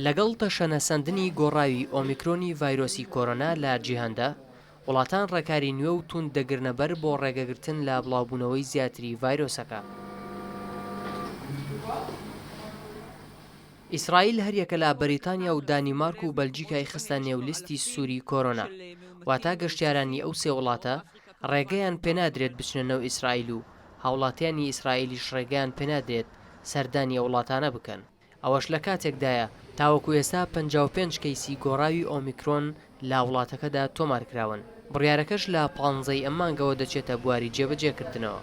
لەگەڵ تەشەنەسەندنی گۆڕاوی ئۆمیکرۆنی ڤایرۆسی کۆرۆنا لە جیهاندا، وڵاتان ڕێکاری نوێ و تووند دەگرنە بەر بۆ ڕێگەگرتن لە بڵاوبوونەوەی زیاتری ڤایرۆسەکە. ئیسرائیل هەریەکە لە بەریتانیا و دانیمارک و بەلجیکای خستە نێو لیستی سووری کۆرۆنا، واتە گەشتیارانی ئەو سێ وڵاتە ڕێگەیان پێنادرێت بچنە نەو ئیسرائیل و هاوڵاتیانی ئیسرائیلیش ڕێگەیان پێنادرێت سەردانی ئەو وڵاتانە بکەن، ئەوەش لە کاتێکدایە تاوەکو ئێستا پەنجا و پێنج کەیسی گۆڕاوی ئۆمیکرۆن لە وڵاتەکەدا تۆمارکراون، بڕیارەکەش لە پانزەی ئەم مانگەوە دەچێتە بواری جێبەجێکردنەوە.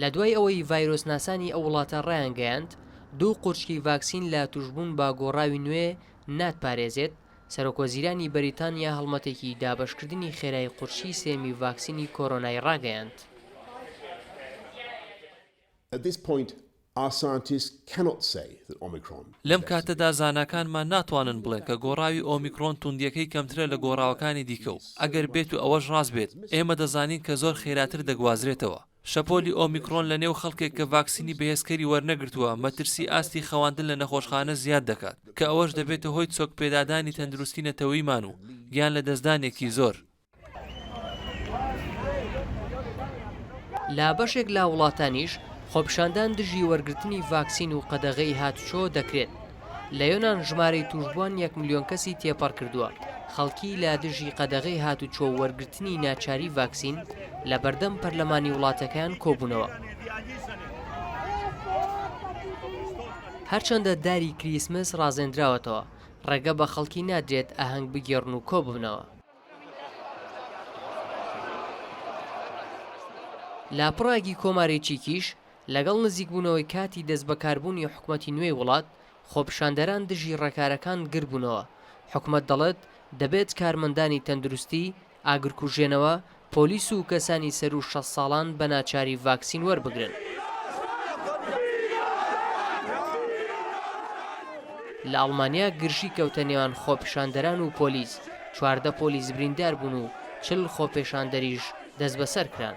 لە دوای ئەوەی ڤایرۆسناسانی ئەو وڵاتە ڕایانگەیاند دوو قورچکی ڤاکسین لە توشبوون بە گۆڕاوی نوێ ناتپارێزێت، سەرۆکوەزیرانی بەریتانیا هەڵمەتێکی دابەشکردنی خێرای قورچکی سێمی ڤاکسینی کۆرۆنای ڕاگەیاند. Our scientists cannot say that Omicron is less severe. لەم کاتەدا زاناکانمان ناتوانن بڵێن کە گۆڕاوی ئۆمیکرۆن توندییەکەی کەمترە لە گۆڕاوەکانی دیکە و ئەگەر بێت و ئەوەش ڕاست بێت ئێمە دەزانین کە زۆر خێراتر دەگوازرێتەوە شەپۆلی ئۆمیکرۆن لە نێو خەڵکێک کە ڤاکسینی بەهێزکەری وەرنەگرتووە مەترسی ئاستی خەواندن لە نەخۆشخانە زیاد دەکات کە ئەوەش دەبێتە هۆی چۆکپێدادانی تەندروستی نەتەوەیمان و گیان لەدەستدانێکی زۆر لە بەشێک لە وڵاتانیش خۆپیشاندان دژی وەرگرتنی ڤاکسین و قەدەغەی هاتوچۆ دەکرێت. لە یۆنان ژمارەی تووشبووان یەک ملیۆن کەسی تێپەڕ کردووە، خەڵکی لە دژی قەدەغەی هاتوچۆ و وەرگرتنی ناچاری ڤاکسین لە بەردەم پەرلەمانی وڵاتەکەیان کۆبوونەوە. هەرچەندە داری کریسمس ڕازێندراوەتەوە، ڕێگە بە خەڵکی نادرێت ئاهەنگ بگێڕن و کۆببنەوە. لە پڕاگی کۆماری چیکیش لەگەڵ نزیکبوونەوەی کاتی دەستبەکاربوونی حکومەتی نوێی وڵات، خۆپیشاندەران دژی ڕێکارەکان گردبوونەوە، حکومەت دەڵێت دەبێت کارمەندانی تەندروستی، ئاگرکوژێنەوە، پۆلیس و کەسانی سەروو شەست ساڵان بە ناچاری ڤاکسین وەربگرن. لە ئەڵمانیا گرژی کەوتە نێوان خۆپیشاندەران و پۆلیس، چواردە پۆلیس بریندار بوون و چل خۆپێشاندەریش دەستبەسەر کران.